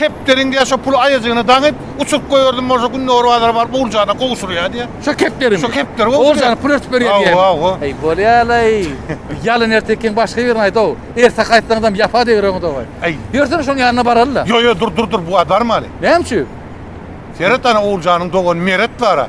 Kepderiň diýýär, şo puly aýajygyna daňyp, uçuryp goýberdin bolsa, günde Orbazara baryp, oguljana gowşurýar diýýär. Şo kepderi mi? Şo kepderi gowşurýar. Oguljana pul örtüp berýär diýýärmi? Hawa, hawa. Heý, bolýa-laý. Bu ýalyn ertekiň başga birini aýt-ow. Erte gaýtsaňyzam ýapa degireňiz owaý. Äý. Ýörsene şonuň ýanyna baraly-da. Ýok, ýok, dur, dur, dur, bu-a barmaly. Näme üçin? Seret, ana, Oguljanyň dogany Meret bar-a.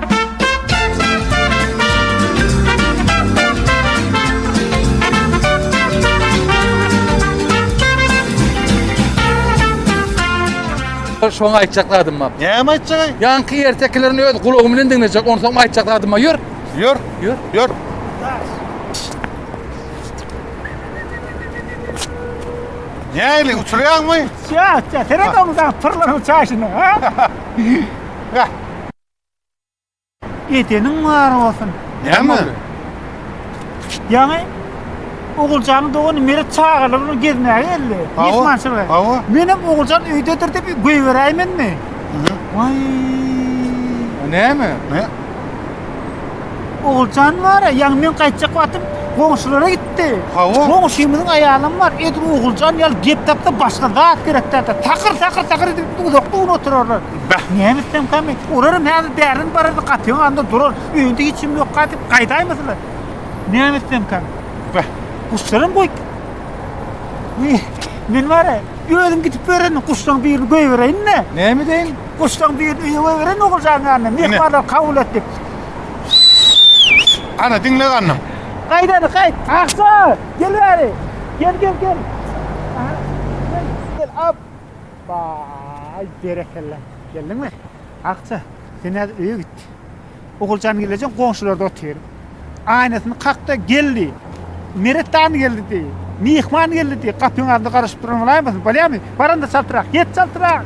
Şoň aýtjak zadym bar. Näme aýtjak? Ýanky ertekilerini öz gulagym bilen diňlejek. Onsoň aýtjak zadym bar. Ýör. Ýör. Ýör. Ýör. Näli uçurýarmy? Çat, çat. Seret onu da pyrlaryň çaşyna, ha? Edeniň bar bolsun. Näme? Ýaňy Oguljanyň dogany Meret çagalar bilen gezmäge geldi. Mehmançylyga. Hawa. Menem Oguljan öýdedir diýip goýberäýmenmi? Waý. Näme? Ne? Oguljan bar, ýaňy men gaýtjak wagtym goňşulara gitdi. Hawa. Goňşymyzyň aýalym bar. Edip Oguljan ýaly gep tapsa başga zat gerek däldi. Takyr takyr takyr edip uzakda oturarlar. Bäh, näme etsemka men? Olaram häzir bärinden barardy, gapyň agynda durar. Öýünde hiç kim ýokka diýip gaýdaýmasalar. Näme etsemka? Bäh, guşlaram goýup. Ýe, men bar-a, özüm gidip bererin, guşlaryň birini goýbereýin-de. Näme edeýin? Guşlaryň birini öýe goýbereýin Oguljanyň ýanyna, myhmanlar kabul et diýip. Ana, diňle gannym. Gaýt indi, gaýt. Akja, gel bäri. Gel, gel, gel. Aha, gel, gel, ap. Baý, berekella. Geldiňmi? Akja, sen häzir öýe git. Oguljan gelejeň goňşularda otyr. Aýnasyny kak-da, Geldi! Meret dan geldi diý! Myhman geldi diý! Gapyň agzynda garaşyp duran bolaýmasyn? Bolýamy? Baranda çaltrak, get çaltrak!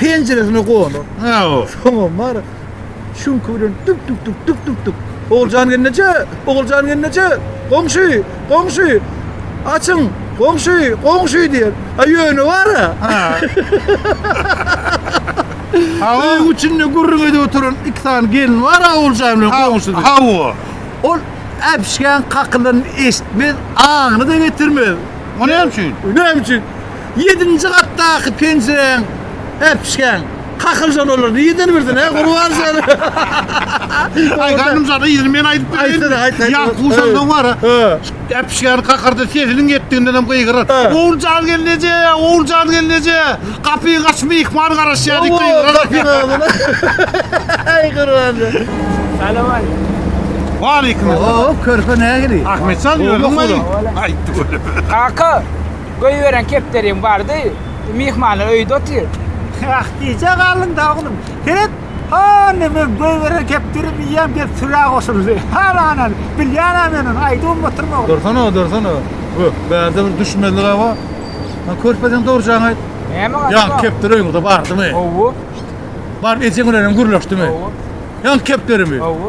penjiresine goýalar. Hawa. Soňam bar, şuňky bilen dük dük dük dük dük dük. Oguljan gelneje, Oguljan gelneje, goňşy, goňşy, açyň, goňşy, goňşy diýer. A ýöne bar-a. Hawa. Öýüň içinde gürrüň edip oturan iki sany gelin bar-a Oguljan bilen goňşy diýip. Hawa. Ol äpişgäň kakylanyny eşitmez, aňyna-da getirmez. O näme üçin? Näme üçin? Ýedinji gatdaky penjiräň äpişgäň kakyljan olar nirden bilsin hä Gurban şärik. Aý ganym şada ýeri men aýdyp bereýinmi? Aýt aýt. Ýa Guşanda bar. Äpişgäni kakyrdy sesiniň ýetdigindenem gygyrar. Oguljan gelin eje, Oguljan gelin eje, gapyňy aç myhman garaşýar diýip gygyrar. Aý Gurban şärik. Salam aleýkum. Waleýkum salam. Oho körpe nähili? Ahmetjan ýörüň weli. Aýtdy weli. Kaka. Goýberen kepderim bardy. Myhmanlar öýde otyr. Ýah, gijä galdyň-da, oglum. Seret, hany, men goýberen kepderim iýýän, diýip, sürä goşuldy. Halanany, bilýän-ä men ony, aýdybam otyryn, oglum. Dursana, dursana. Bu, bärde bir düşmezlig-ä bar. Ýa körpejeň dogrujagyny aýt. Näme gaty bar? Ýa kepder öýňüzde bardymy? Hawa. Baryp ejeň bilenem gürleşdiňmi? Hawa. Ýa kepderimi? Hawa.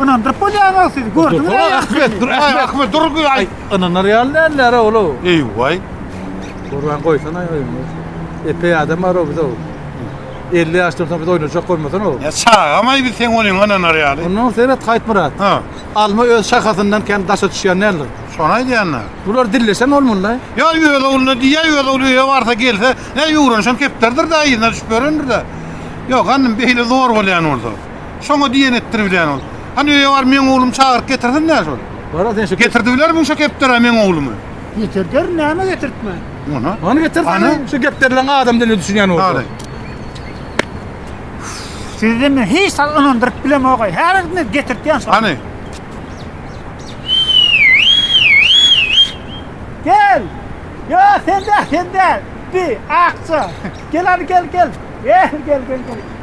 Ynandyryp bolýaňok siz, gördüňiz aý ahmet, dur aý ahmet, dur bir aý. Ynanar ýaly näl näre ola. Eý waý. Gurban goýsana aý oýny. Epeý adam bar o bize. 50 ýaşdan soň biz oýnajak bolmasana o. Ýa çagam aý biz seň oýnuňa ynanar ýaly. Ondan seret Haýtmyrat. Ha. Alma öz şahasyndan kän daşa düşýän näler. Şony aýdýanyna. Bular dilleşen bolmalyda. Ýa öz ogluna diýýä, öz ogly öýe barsa gelse, näý öwrenişen kepderidir-de, yzyna düşüp ýörendir-de. Ýok, hanym beýle zor bolýan bolsa. Şoňa diýen etdir bilen ol. Hany öýe bar meň oglum çagyryp getirsin näş ol. Bara sen şu. Getirdi biler muň şo kepdere meň oglumy. Getirder näme getirtmän. Mona. Many getir seni şu gepderilen adam diline düşünýän bolsa. Hany. Sizi men hiç sal ynandyryp bilemogaý. Häzirden getirtýän şo. Hany. Gel. Yo sende sende. Bi akça. Gel hadi gel gel. Gel gel gel gel.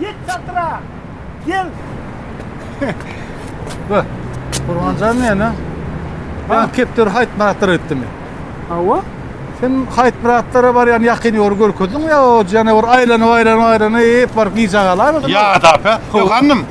Ýet çadyra! Gel! Be, Gurbanjan meni ben kepderi Haýytmyratlara gitdimi? Hawa. Sen Haýytmyratlara barýan ýakyn ýoly görkezdiňmi ýa o janawar aýlanyp-aýlanyp-aýlanyp baryp gijä galarmydymy? Ýa-da, be, ýok, hanym,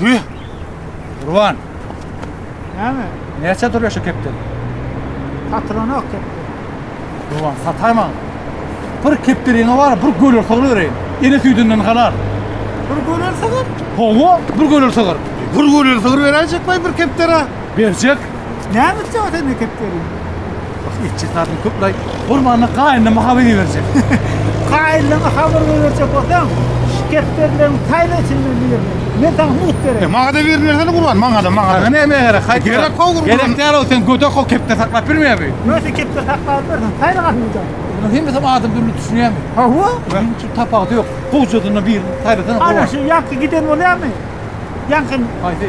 Hüýh! Gurban! Näme? Näçä durýar şu kepden? Satylanok kepden. Gurban, sataý maňa. Bir kepderiňe bar, bir göler sygyr bereýin. Ene süýdünden halal. Bir göler sygyr? Hawa, bir göler sygyr. Bir göler sygyr beräýjek baý bir kepdere. Berjek. Näme üçin ata mekdep geliň? Bak etçi satyn köp lay. Gurbanna gaýynlama habar berjek. Gaýynlama habar berjek bolsaň, şiketlerden taýla içinden bilir. Men sana mut berem. E, maňa da bir nerseni gurban, maňa da, maňa da. Sana näme gerek? Haýt. Gerek kok gurban. Gerek däl o sen gödek o kepde saklap bilmeýär bu. Näme kepde saklap bilirsin? Taýla gatyňda. Bunu hem sen adam dürli düşünýärmi? Ha bu? Benim şu tapagda yok. Gowjadynda bir taýlasana. Ana şu ýaňky giden bolýarmy? Ýaňky. Haýsy?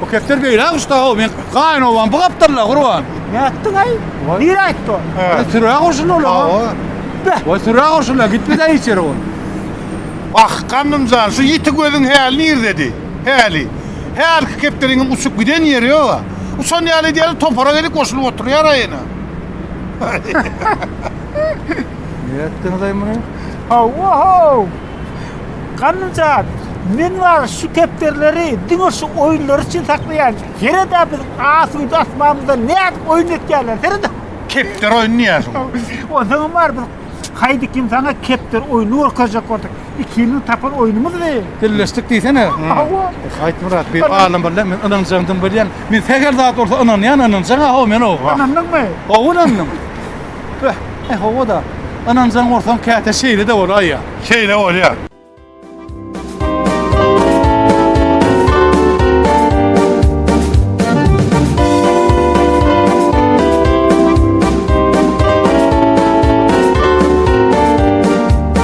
Bu kepter beýle guşda o men gaýyn owan bu gapdalla gurban. Ne ettin ay? Vay. Nire etti o? He. Süre gurşun ola. Hawa. Be. Vay süre gurşun la gitme de içeri ol. Ah, gandymjan, şu ýiti gözüň häli nirdedi? Häli. Hälki kepderiňiň uçup giden ýeri ýog-a. Uçan ýaly edýäris, topara gelip goşulyp oturýar-a ýene. Nirä etdiňiz-aý muny? Hawa-how! Ganymjan, men bar şu kepderileri diňe şu oýunlar üçin saklaýan. Ýere-dä biziň asuda asmamyzda nädip oýun etýärler, seret! Kepder oýny diýýärsiň. Onsoňam bar, biz haýdy kim saňa kepder oýny görkezjek bolduk. 2 ýylyň tapan oýnumyz bi. Birleşdik diýsene. Hawa. Aýt Myrat bir alym bol men ynanjaň dym bilýän. Men sähel zat bolsa ynanýan ynanjaň hawa men hawa. Ynandyňmy? Hawa ynandym. Beh, eh hawa da. Ynanjaň bolsaň käte şeýle de bolaý ýa. Şeýle bolýa.